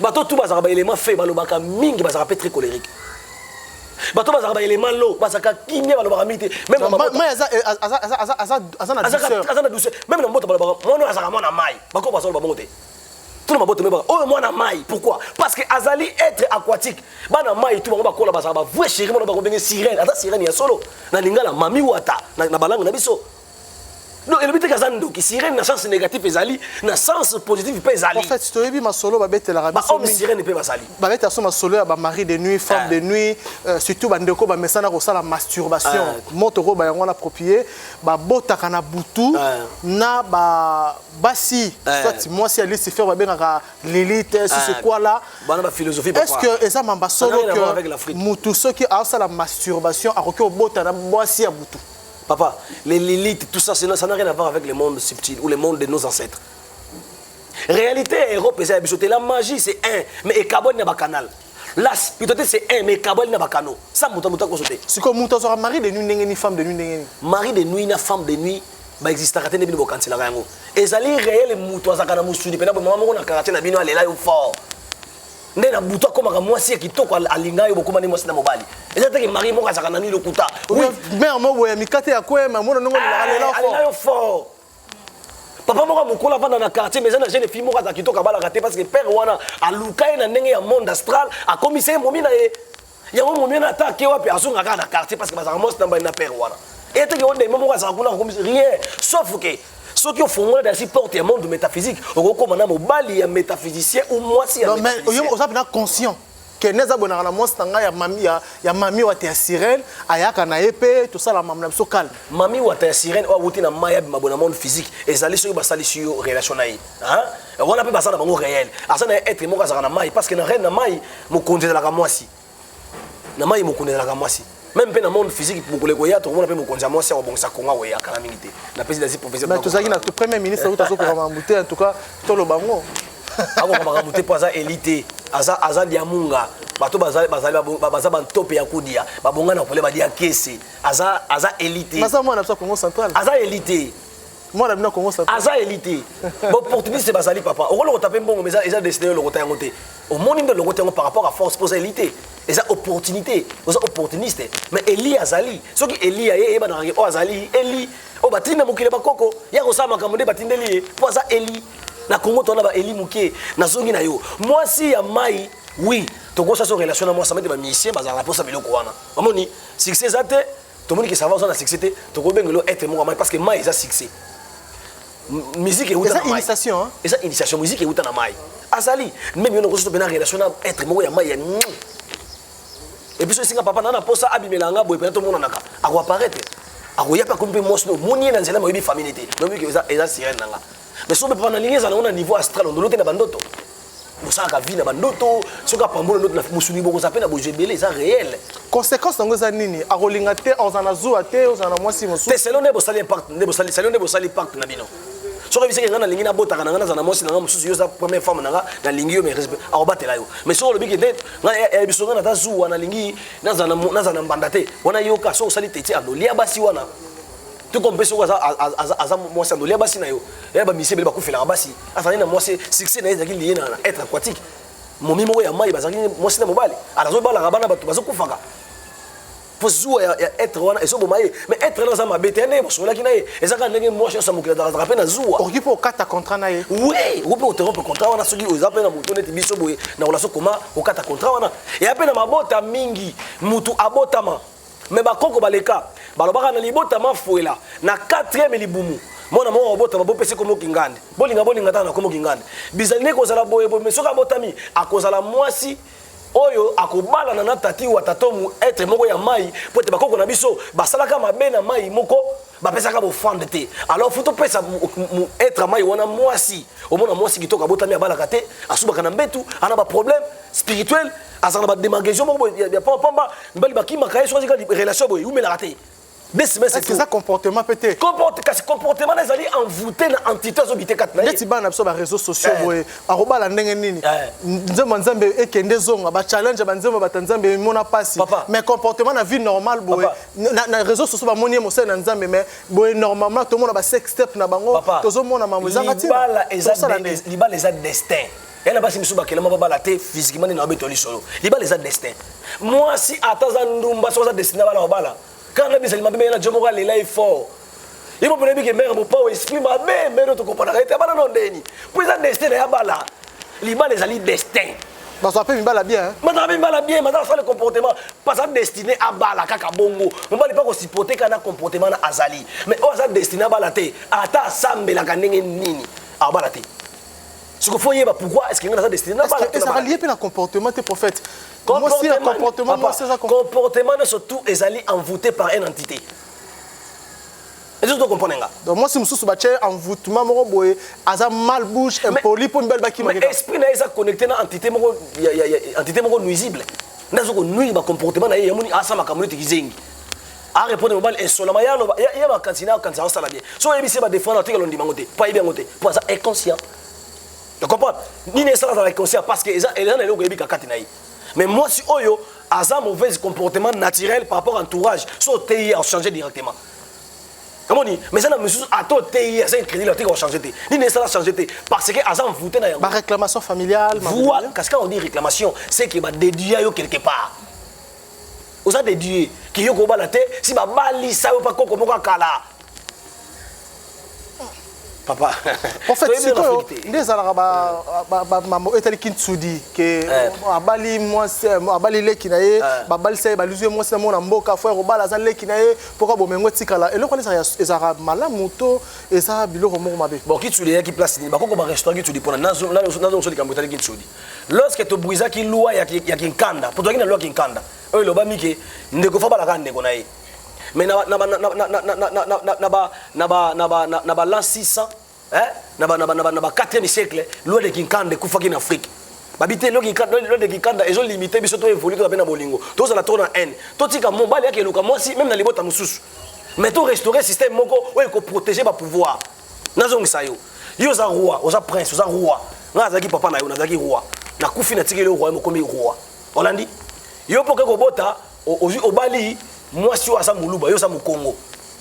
bato tu bazalaka baelema fe balobaka mingi bazalaka mpe très colérique bato bazalaka baelema lo bazalaka kimia balobaka mingi te meme na Ma- mabota- mai aza eh, aza- aza- aza- aza- aza na azalaka- douceur aza na douceur meme na mboto balobaka mwana oyo azalaka mwana mai bakoko bazoloba bango te tuna mabota mebaka oyo mwana mai pourquoi parce que azali être aquatique bana mai tu bango bakola bazalaka bavue chéri mwana bango ndenge sirène aza sirène ya solo na lingala mami wata na, na balangue na biso non elobi te kaza ndoki sirene na sens négatif ezali na sens positif mpe ezali en fait toyebi masolo babetelaka bahomme sirene mpe bazali babetela so masolo ya bamari de nuit femme de ah. nuit euh, surtout bandeko bamesana kosala masturbation ah. moto oyo bayango wana aproprie babotaka na butu ah. na ba basi eh. soit mwasi ya lucifer babengaka lilite eh, sisikwala eh. est ce que eza mamba solo que motu soki aosala masturbation akoki kobota na mwasi ya butu Papa, les Lilith, tout ça, ça n'a rien à voir avec le monde subtil ou le monde de nos ancêtres. Réalité ya Europe eza ya biso te. La magie c'est un, mais ekaboli na ba canal. La spiritualité c'est un, mais ekaboli na ba canaux. Ça muta muta ko sote. Siko muta sera mari de nuit ndenge ni femme de nuit ndenge ni. Mari de nuit na femme de nuit ba existaka te nde bino bokanselaka yango ezali réel moto azalaka na mosuni mpena bomama moko na quartier na bino alela yo fort nde na butu akomaka mwasi ya kitoko alinga yo bokoma nde mwasi na mobali eza teke mari moko azalaka na nini lokuta mare moko boye ya mikate ya kwema mona ndongo ah, alinga yo fort papa moko mokolo avanda na quartier mais eza na jeune fille moko azala kitoko abalaka te parce que père wana aluka ye na ndenge ya monde astral akomisa ye momi na ye yango momiana ata ake wapi azonga kaka na quartier parce que bazalaka mwasi na mbali na père wana eteke o ndembe moko azalaka kuna kokomisa rien sauf ke soki ofongola dasi porte ya monde métaphysique okokoma na mobali ya métaphysicien ou mwasi ya oza mpena conscient kene eza bonaka na mwasi na ngai ya mami ya, ya mami wata ya sirene ayaka na ye mpe tosala mamu na biso calme mami wata ya sirene oyo awuti na mai abima bona monde physique ezali soki basalisi yo relation na ye Hein? Wana pe baza na bango réel. Aza na être moko azaka na mai parce que na reine na mai mokonzi ezalaka mwasi. Na mai mokonzi ezalaka mwasi. Même pe na monde physique mokole koya tokomona pe mokonzi ya mwasi akobongisa Kongo akoya kala mingi te. Na pesi dazi professeur. Mais tozalaki na premier ministre oyo tazo kokoma mbute en tout cas toloba ngo. Akokoma makambo te po aza elite. Aza aza diamunga. bato bazali bazali baza bantope ya kodia babonga na kolia balia kese aza aza elite aza elite mwana bino kongo sa aza eli te baopportuniste bazali papa okolokota mpe mbongo eza, eza destiné yo lokota yango te omoni nde lokota yango par rapport à force mpo oza eli te eza opportunité oza opportuniste mais eli azali soki eli ya ye eyebanaka oyo oh, azali eli oyo oh, batindi na mokili ya bakoko ya kosala makambo nde batindeli ye mpo aza eli na kongo towana baeli moke nazongi na yo mwasi ya mai oui tokosa so relation na mwasi amete bamisien bazalaka mposa biloko wana omoni succès eza te tomoni ke sava oza na succès te tokobengela yo être moko mai parce que mai eza succès musique euta na mai eza initiation musique euta na mai azali meme yo nakosoto mpena relation na être moko ya mai ya epuis oyo esinga papa naa na mposa abimela nga boye mpena tomonanaka akoaparaitre akoya mpe akomi mpe mwasi no omoni ye na nzela moyebi famille te noyebi eza sirene na nga mais soki papa na lingi ezala na niveau astral ondoloke na bandoto bosalaka vie na bandoto soki apambola ndoto na mosuni bokozala mpe na bozwi ebele eza réel conséquence yango eza nini akolinga te ozala na zuwa te ozala na mwasi mosusu te selo nde bosali impact nde bosali selo nde bosali impact na bino soki oyebisaki ngai nalingi nabotaka na ngai nazala na mwasi na ngai mosusu yo oza première femme na ngai nalingi yo mais akobatela yo mais soki olobi ke nde biso ngai naza zuwa nalingi nazala na mbanda te wana yoka soki osali teti anolia basi wana to comme soki aza aza aza mwasi andoli ya basi na yo ya bamisi ebele bakufelaka basi azali na mwasi succès na ye ezalaki liye na être aquatique momi moko ya mai bazalaki mwasi na mobali alazobalaka bana bato bazokufaka mpo zuwa ya, ya etre wana ezoboma ye mais etre wana aza mabe te nde bosololaki na ye eza kaka ndenge mwasi nyonso ya mokili azalaka mpe na zuwa okoki mpe okata contrat na ye oui okoki mpe oterompe contrat wana soki oza mpe na moto neti biso boye na relation koma okata contrat wana eya mpe na mabota mingi motu abotama me bakoko baleka balobaka na libota mafuela na 4e libumu mwana moko abotama bopesi komo kingande bolinga bolinga tata na komo kingande bizali nde kozala boye boye me soki abotami akozala mwasi oyo akobalana na tati wa tatomu etre moko ya mai mpo ete bakoko na biso basalaka mabe na mai moko bapesaka bofande te alors fo topesa etre mai wana mwasi omona mwasi kitoko abotami abalaka te asubaka na mbetu ana baproblème spirituel azala na bademarcation moko ya pamba mibali bakimaka ye soki azika relation boye eumelaka te eza comportement mpe te kasi comportement na ezali envoute na entité azobite kati neti bana na biso bareseau sociaux eh. boye akobala ndenge nini eh. nzembo ya nzambe ekende ezonga bachallenge ya banzembo bata nzambe emona mpasi mais comportement na vie normale boye na réseau sociaux bamoni ye mosali na nzambe mais boye normalement tomona basex step na bango tozomona mamo ezanga ntinalibala eza destin ya na basi mosusu bakelama babala te physiquement nde na babeto lisolo libala eza destin mwasi ata aza ndumba soki aza destin abala obala kaka na bizali mabe meye na jo moko alela ye fort ye moko nayebi ke mere mopao esprit mabe mere oyo tokopanaka ete abala no ndeni mpo eza destin na ye abala libala ezali destin bazwa mpe mibala bien bazala mpe mibala bien bazala sale comportement baza destiné abala kaka bongo mobali mpe akosipote kaka na comportement na azali mais oyo aza destiné abala te ata asambelaka ndenge nini abala te siko faut yeba pourquoi est-ce que nga naza destiné na bala te ezaka lié pe na comportement te prophète comportement moi c'est ça comportement surtout ezali envoûté par une entité ezo to comprendre nga donc moi si mususu ba tie envoûtement moko boye aza mal bouche impoli po mibali bakima mais esprit na eza connecté na entité moko entité moko nuisible nazo ko nuire ba comportement na ye yamoni asa makambo neti kizengi arepondre mobali esolama ye aloba ye makanisi na akanisa asala bien so oyebisi ye badefendre atikala ondima yango te mpo ayebi yango te mpo aza inconscient ya comprendre nini esala azala inconscient parce que eza na eloko eyebi kakati na ye mais mwasi oyo aza mauvaise comportement naturel par rapport entourage so oteyi ye achange directement omoni mais eza na mosusu ata oteyi aza incrédule atika kochange te nini esala change te parce que aza envoute na yango baréclamation familiale kasi kaka odi réclamation c'est que badéduya yo quelque part oza de dieu kiyo kobala te si babalisa yo mpa koko moko akala papa en fait sikoyo nde ezalaka bamambo etali kintsudi ke eh. abali mwasi eh, abali leki na ye eh. babalisa ye baluzi ye mwasi na mona mboka fo ya kobala aza leki na ye mpo ka bomengo etikala eloko wana ezalaka malamu to eza biloko moko mabe bon kintsudi eyaki place nini bakoko barestaurant kintsudi mpona nazongoso likambo etali kintsudi lorsque to brisaki loi ya, ya kinkanda mpo tozalaki na loi ya kinkanda oyo elobami ke ndeko fo abalaka ndeko na ye mais na balan 600 na ba 4e siècle loi de kinkanda ekufaki na afrique babi te loki lode kikanda ezo limite biso to évolue toza mpe na bolingo tozala trop na haine totika mobali yaki eluka mwasi meme na libota mosusu mais to restaurer système moko oyo ekoprotege bapouvoir nazongisa yo yo oza roi oza prince oza roi ngai azalaki papa na yo nazalaki roi nakufi natikeli yo roi mokomi roi olandi yo mpo oke kobota obali mwasi oyo aza moluba yo oza mokongo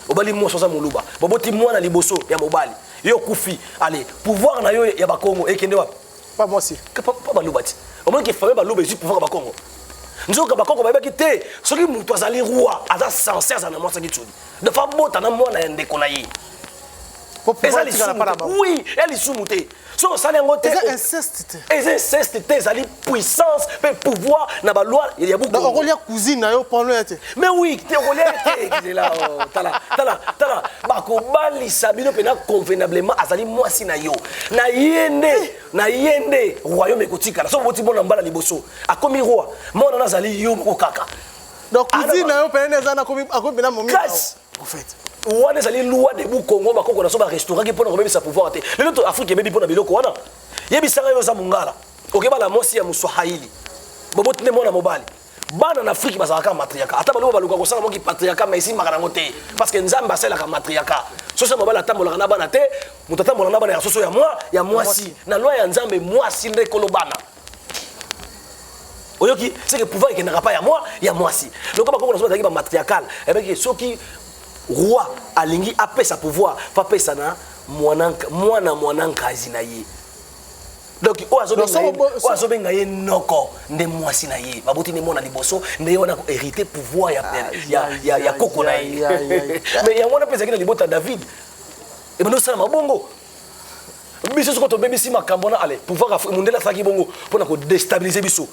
obali mwasi oza moluba baboti mwana liboso ya mobali yo okufi ale pouvoir na yo ya bakongo ekende wapi Pas moi si. Pas pas baluba ti. Au moins que famille baluba ezui pouvoir ba Congo. Nzoka ba Congo bayebaki te soki mutu azali roi aza censé azala na mwasi kitsudi. Donc fa bota na mwana ya ndeko na ye. Eza lisumu te. Oui, eza lisumu te. So osali yango te. Eza inceste te. Eza inceste te ezali puissance pe pouvoir na ba loi ya buku. Donc okolia cousine na yo pano ya te. Mais oui, te okolia te kizela. Tala, tala, tala. Bakobalisa bino pe na convenablement azali mwasi na yo. na ye nde na ye nde royaume ekotikala soki oboti bona mbala liboso akomi roi mwana na azali yo moko kaka donc cousine na yo pene eza akomi mpena momi prophète wana ezali loi debout congo bakoko na so barestauraki mpo na kobebisa pouvoir te lelo to afrique ebebi mpo na biloko wana yebisanga yo oza mongala okebala mwasi ya moswahili boboti nde mwana mobali bana na afrike bazalaka matriaka ata baloba baluka kosala moki patriaka ma esimbaka nango te parce que nzambe asalaka matriaka soso ya mobali atambolaka na bana te moto atambolaka na bana ya soso ya mwa ya mwasi na loi ya nzambe mwasi nde kolo bana oyoki seke pouvoir ekendaka pa ya mwa ya mwasi lokola bakoko na soki bazalaki bamatriakale ebeki eh soki roi alingi apesa pouvoir papesa na mwana mwana nkazi na ye donc oyo azobenga ye noko nde mwasi na ye baboti nde mwana liboso nde ye wana koherite pouvoir ya ah, koko na ye mais yango wana mpe ezalaki na libota ya david ebanda osalama bongo biso soko tobebisi makambo wana ale pouvoir mondele asalaki bongo mpo na kodestabilize biso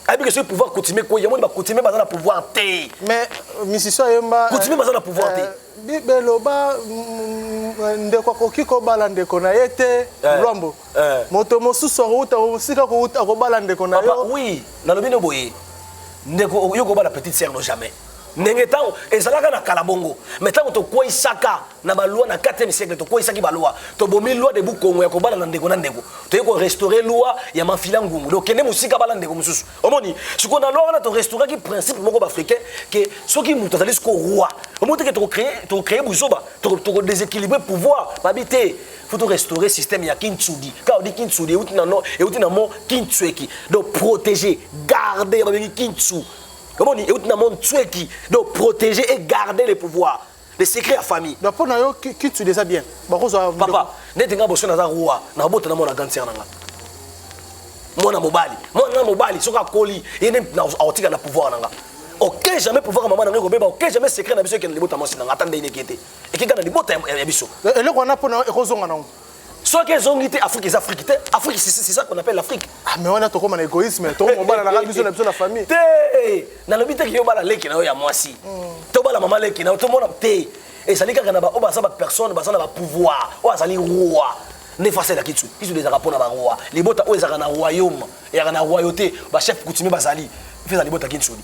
ayebi ke soki pouvoir coutumier koi yango bacoutumier baza na pouvoir te mais euh, misisio ayemba euh, coutumier baza na pouvoir te euh, beloba mm, mm, ndeko akoki kobala ndeko na ye te lwambo eh. moto mosusu akouta mosika kouta akobala ndeko na yo oui nalobi no boye ndeko yo kobala petite sœur no jamais ndenge ntango ezalaka na kala bongo me ntango tokweisaka na balwa na 4e siècle tokweisaki balwa tobomi loi de bukongo ya kobala na ndeko na ndeko toyei korestaure loi ya mafila ngungu donc kende mosika bala ndeko mosusu omoni sikoyo na loi wana torestauraki principe moko baafricain ke soki moto azali siko roi omoni teke tokocree buzoba tokodeséquilibre pouvoir babi te faut to restaurer système ya kintsudi ka odi kintsudi euti na no euti na mo kintsueki donc protéger garder ba bengi kintsu omoni euti na mo ntsueki donc protéger et garder le pouvoir le secret ya famille donc mpo na yo kintsudi eza bien bakozwa papa neti nga boso naza roi nakobota na mwana ganser na nga mwana mobali mwana na mobali soki akoli ye nde akotika na pouvoir na nga oke jamais pouvoir ya mama na ngai ekobeba oke jamais secret na biso ekende libota mwasi na nga ata ndenge neke te ekeka na libota ya biso eh, eloko wana mpona ekozonga nango soki ezongi te afrique eza afrique te afrique c'est ça qu'on appelle l'afrique ah, mais wana tokoma na égoïsme tokomobala na kaka biso na biso na famille te nalobi te ke yo bala leki na yo ya mwasi hmm. tobala mama leki na yo tomona te ezali kaka na baoyo baza bapersone baza na bapouvoir oyo azali roi nde fasi elaki tu kisu ezalaka mpo na baroi libota oyo ezalaka na royaume eyaka na royauté bachef coutumier bazali mpe eza libota kinsoli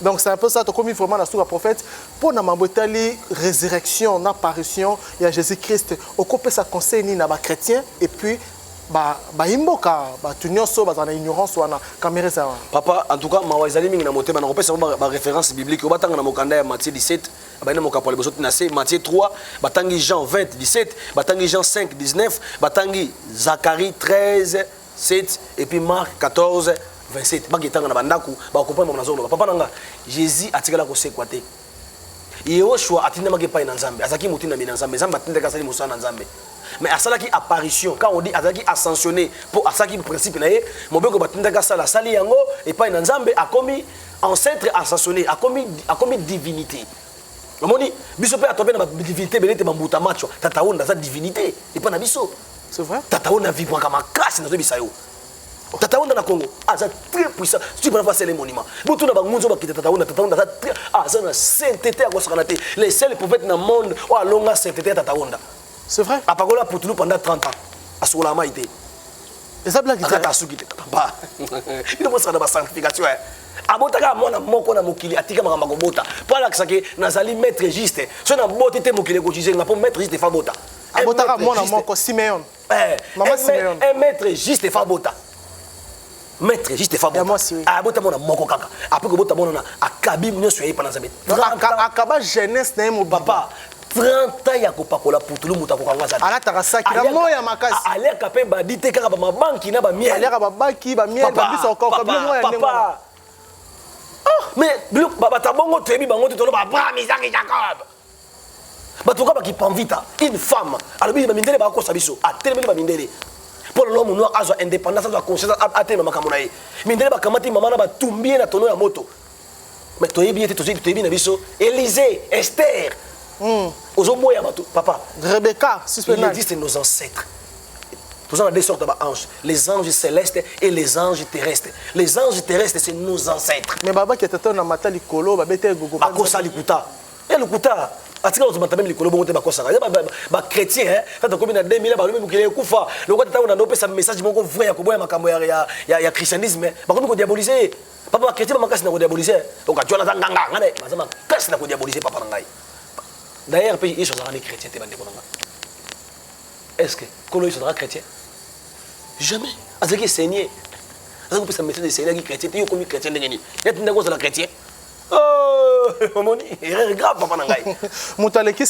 Donc c'est un peu ça, tokomi vraiment na suka prophète mpo na mambo etali résurrection na apparition ya Jésus-Christ. Okopesa conseil nini na ba chrétiens et puis ba bayimboka bato nyonso bazala na ignorance wana kamere eza wana papa en tout cas mawa ezali mingi na motema na kopesa bango ba référence biblique oyo batanga na mokanda ya matthieu 17 abandi na mokapo ya liboso ti na se matthieu 3 batangi jean 20 17 batangi jean 5 19 batangi zacharie 13 7 et puis Marc 14 27 baki etanga na bandako bakoprendre mama nazoloba papa na nga jésus atikala kosekwa te yehoshua atindamaki epai na nzambe azalaki motindami na nzambe nzambe atindaki asali mosala na nzambe mais asalaki apparition quand on dit azalaki ascensionné mpo asalaki principe na ye mobeko batindaki asala asali yango epai na nzambe akomi ancêtre ascensionné akomi, akomi divinité omoni biso mpe atobe na badivinité ebele te bambuta macho tata onda aza divinité epai na biso C'est vrai. Tata on a vibré comme casse dans bisa yo. Tata on dans Congo, ah ça très puissant. Tu peux pas passer les monuments. Bon tout d'abord nous on va quitter Tata on, Tata on ça très ah ça na sainteté à quoi ça kanaté. Les seuls prophètes dans le monde, oh longa sainteté Tata on. C'est vrai. À Pagola pour tout pendant 30 ans. À Soula Maïté. Et ça blague. Tata Suki Tata. Bah. Il doit passer dans la sanctification. Hein. abotaka mwana moko na mokili atika makambo akobota mpo alakisaki nazali maître juste soki naboti te mokili ekojize nga mpo maître juste efa bota abotaka mwana moko simeon eh, mama simeon un maître juste efa abota maître juste efa abota mwana moko kaka apres kobota mwana na akabi nyonso ya ye pana nzambe akaba jeunesse na ye mobaba 30 ans ya kopakola putulu moto akokanga aza alataka saki na moya makasi aliaka mpe badi te kaka bamabanki na bamiel aliaka babaki bamiel babiso okoka bino moya ndenge mais batabongo toyebi bango te toloba abraham isaki jacob bato kaka bakipanvita une femme alobi bamindele bakosa biso atelemeli bamindele mpo lelo monoir azwa indépendance azwa conscience atelema makambo na ye mindele bakamati mama na batumbi ye na tono ya moto mais toyebi ye te toyebi na biso élysée esther hmm. ozoboya bato papa rebecca il existe nos ancêtres Nous avons deux sortes d'anges, les anges célestes et les anges terrestres. Les anges terrestres, c'est nos ancêtres. Mais Baba qui était un amateur likolo, Baba était gogo. Akosa likuta. ya lokuta atika bato matambe likolo bongo te bakosaka ya bachrétien eh, tata komi na 2000 balobi mokili ekufa lokola tata oyo nano opesa message moko vrai ya koboya makambo ya christianisme eh. bakomi kodiabolise ye papa bachrétien bamakasi na kodiabolise eh. okatyola aza nganga ngai naye baza makasi na kodiabolise papa na ngai d'ailleurs mpe yesu azalaka nde chrétien te bandeko na ngai est ce que kolo yesu azalaka chrétien jamais azalaki eseigne azalaki kopesa message eseignaki chrétien te yo okomi chrétien ndenge nini yatindaki ozala chrétien Oh, omoni erreur grave papa na ngai moto aleki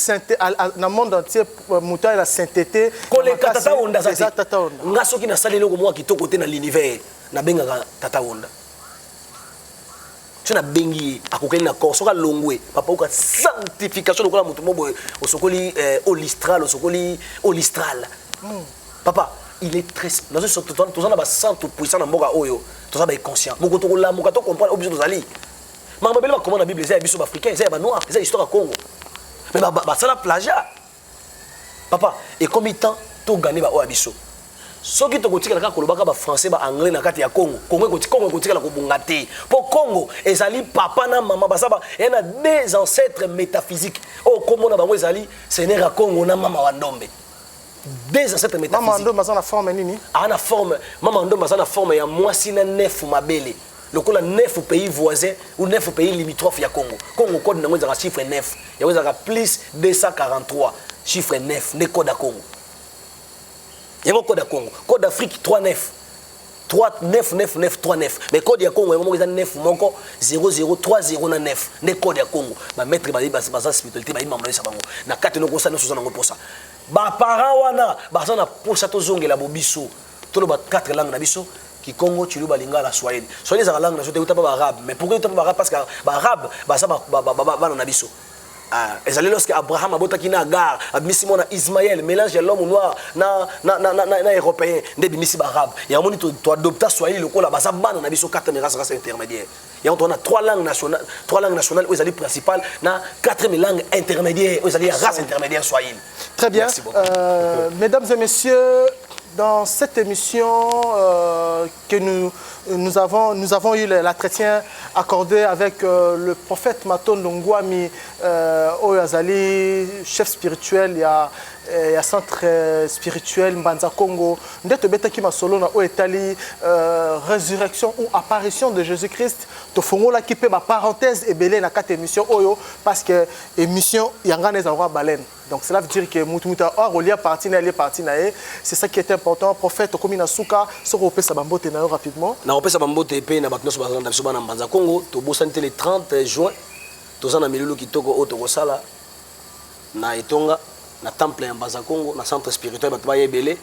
na monde entier euh, moto ayela saintete koleka tata onda aza te nga soki nasali eloko mwa kitoko te na l'univers nabengaka tata onda so nabengi ye akokani na corps soki alongwe bapauka sanctification lokola moto mo boye osokoli euh, olistral osokoli olistral hmm. papa il est très nazo so toza toza na ba santu puissant na mboka oyo toza ba inconscient moko to kolamuka to comprendre obiso tozali makambo bele bakoma na bible eza ya biso baafricain eza ya banoir eza histoire ya congo mais basala plagiat papa ekomi temps togane baoyo ya biso soki tokotikala kaka kolobaka bafrançais baanglais na kati ya congo congo congo ekotikala kobonga te mpo congo ezali papa na mama baza eya na deux ancêtres métaphysique oyo nkombo na bango ezali seigneur ya congo na mama wa ndombe deux ancêtres métaphysiques. Maman Ndomba aza na forme nini? Ah na forme, Maman Ndomba aza na forme ya mwasi na nefu mabele. lokola nefu pays voisin ou nefu pays limitrophe ya Congo. Congo code nango ezaka chiffre 9. Yango ezaka plus 243 chiffre 9 nde code ya Congo. Yango code ya Congo. Code d'Afrique 39. 3 9 9 9 3 9 mais code ya Congo yango moko eza 9 moko 0030 na 9 nde code ya Congo ba maître ba baza spiritualité ba imamlesa bango na kati noko sa nyoso za nango posa ba parents wana baza na posa tozongela bobiso toloba quatre langues na biso kikongo chiluba lingala swahili swahili ezalaka langue na biso te euta mpe baarabe mais pourquoi euta mpe baarabe parce que baarabe baza bana na biso Ah, ezali lorsque abraham abotaki na agar abimisi mwana ismael mélange ya l'homme noir na, na, na, na, na, na européen nde ebimisi baarabe yango moni toadopta swahili lokola baza bana na biso kata mirasrasa intermédiaire yango toza na trois langues nationales trois langues nationales oyo ezali principale na quatrième langue intermédiaire oyo ezali ya race intermédiaire swahili très bien euh, mesdames et messieurs dans cette émission euh, que nous, nous, avons, nous avons eu l'entretien accordé avec euh, le prophète Maton Ngwami euh, Oyazali, chef spirituel, il y a, euh, il y a centre euh, spirituel Mbanza Congo, nde tobetaki masolo na oyo etali euh, résurrection ou apparition de jésus christ tofongolaki mpe baparenthèse ebele na kati émission oyo parce que émission ya ngai na ezalaka baleine donc cela veut dire que mutu mutu akolia parti na ye alie parti na ye c'est ça qui est important prophète okomi na suka soki opesa bambote na yo rapidement na kopesa bambote mpe na bato nyonso bazalanda biso bana mbanza congo tobosani te le 30 juin toza na milulu kitoko oyo tokosala na etonga na temple ya mbaza congo na centre spirituel bato baya ebele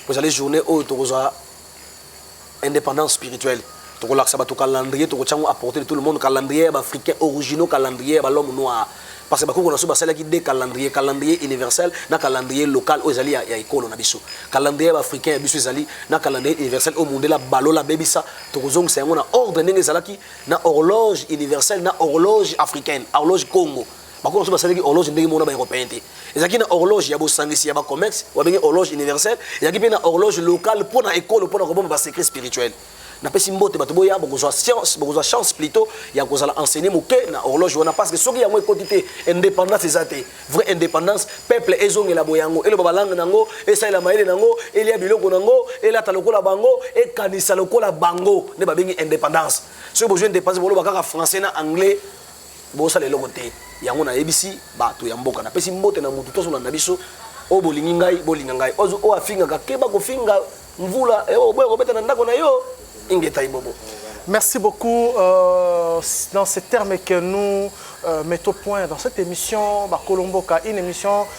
po ezali journée oyo tokozwa indépendance spirituelle tokolakisa bato calendrier tokotya yango apporter de tout le monde calendrier ya baafricain originaux calendrier ya balhomme noir parce que bakoko na biso basalaki de calendrier calendrier universel na calendrier local oyo ezali ya, ya ekolo na biso calendrier ya baafricain ya biso ezali na calendrier universel oyo mundela balola abebisa tokozongisa yango na ordre ndenge ezalaki na horloge universelle na horloge africaine horloge congo bakolo mosusu basalaki horloge ndenge moko na baeuropéen te ezalaki na horloge ya bosangisi ya bacommerce babengi horloge universelle ezalaki mpe na horloge locale mpo na ekolo mpo na kobomba basecret spirituel napesi mbote bato boya bokozwa science bokozwa chance plutôt ya kozala enseigné moke na horloge wana parce que soki yango ekoti te indépendance eza te vraie indépendance peuple ezongela boyango eloba balangue na yango esalela mayele na yango elia biloko na yango elata lokola bango ekanisa lokola bango nde babengi indépendance soki bozwi indépendance boloba kaka français na anglais bosala eloko te yango nayebisi bato ya mboka napesi mbote na moto tozolanda biso oyo bolingi ngai bolinga ngai oyo afingaka keba kofinga mvula eh, oboya kobeta na ndako na yo ingeta ibobo Merci beaucoup. Euh, dans ces termes que nous euh, mettons point dans cette émission, Bakolomboka, une émission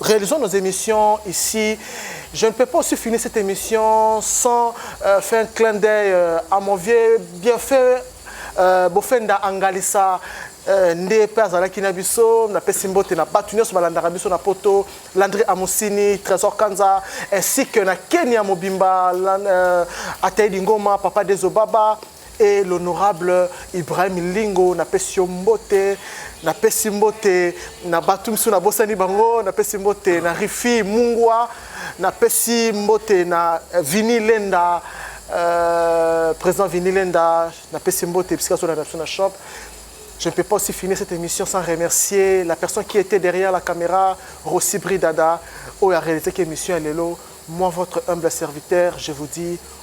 Réalisons nos émissions ici. Je ne peux pas aussi finir cette émission sans euh, faire un clin d'œil euh, à mon vieux bien fait euh, Bofenda Angalissa. Euh, nde mpe azalaki na biso napesi mbote na bato nyonso balandaka biso na poto landri amusini trésor kanza ainsi que na kenya mobimba euh, atei lingoma papa desobaba et l'honorable Ibrahim Lingo na pesi yo mbote na pesi mbote na batu misu na bosani bango na pesi mbote na Rifi Mungwa na pesi mbote na euh, Vini Lenda euh, président Vini Lenda na pesi mbote bisika so na na shop Je ne peux pas aussi finir cette émission sans remercier la personne qui était derrière la caméra, Rossi Bridada, où a réalisé l'émission Allélo. Moi, votre humble serviteur, je vous dis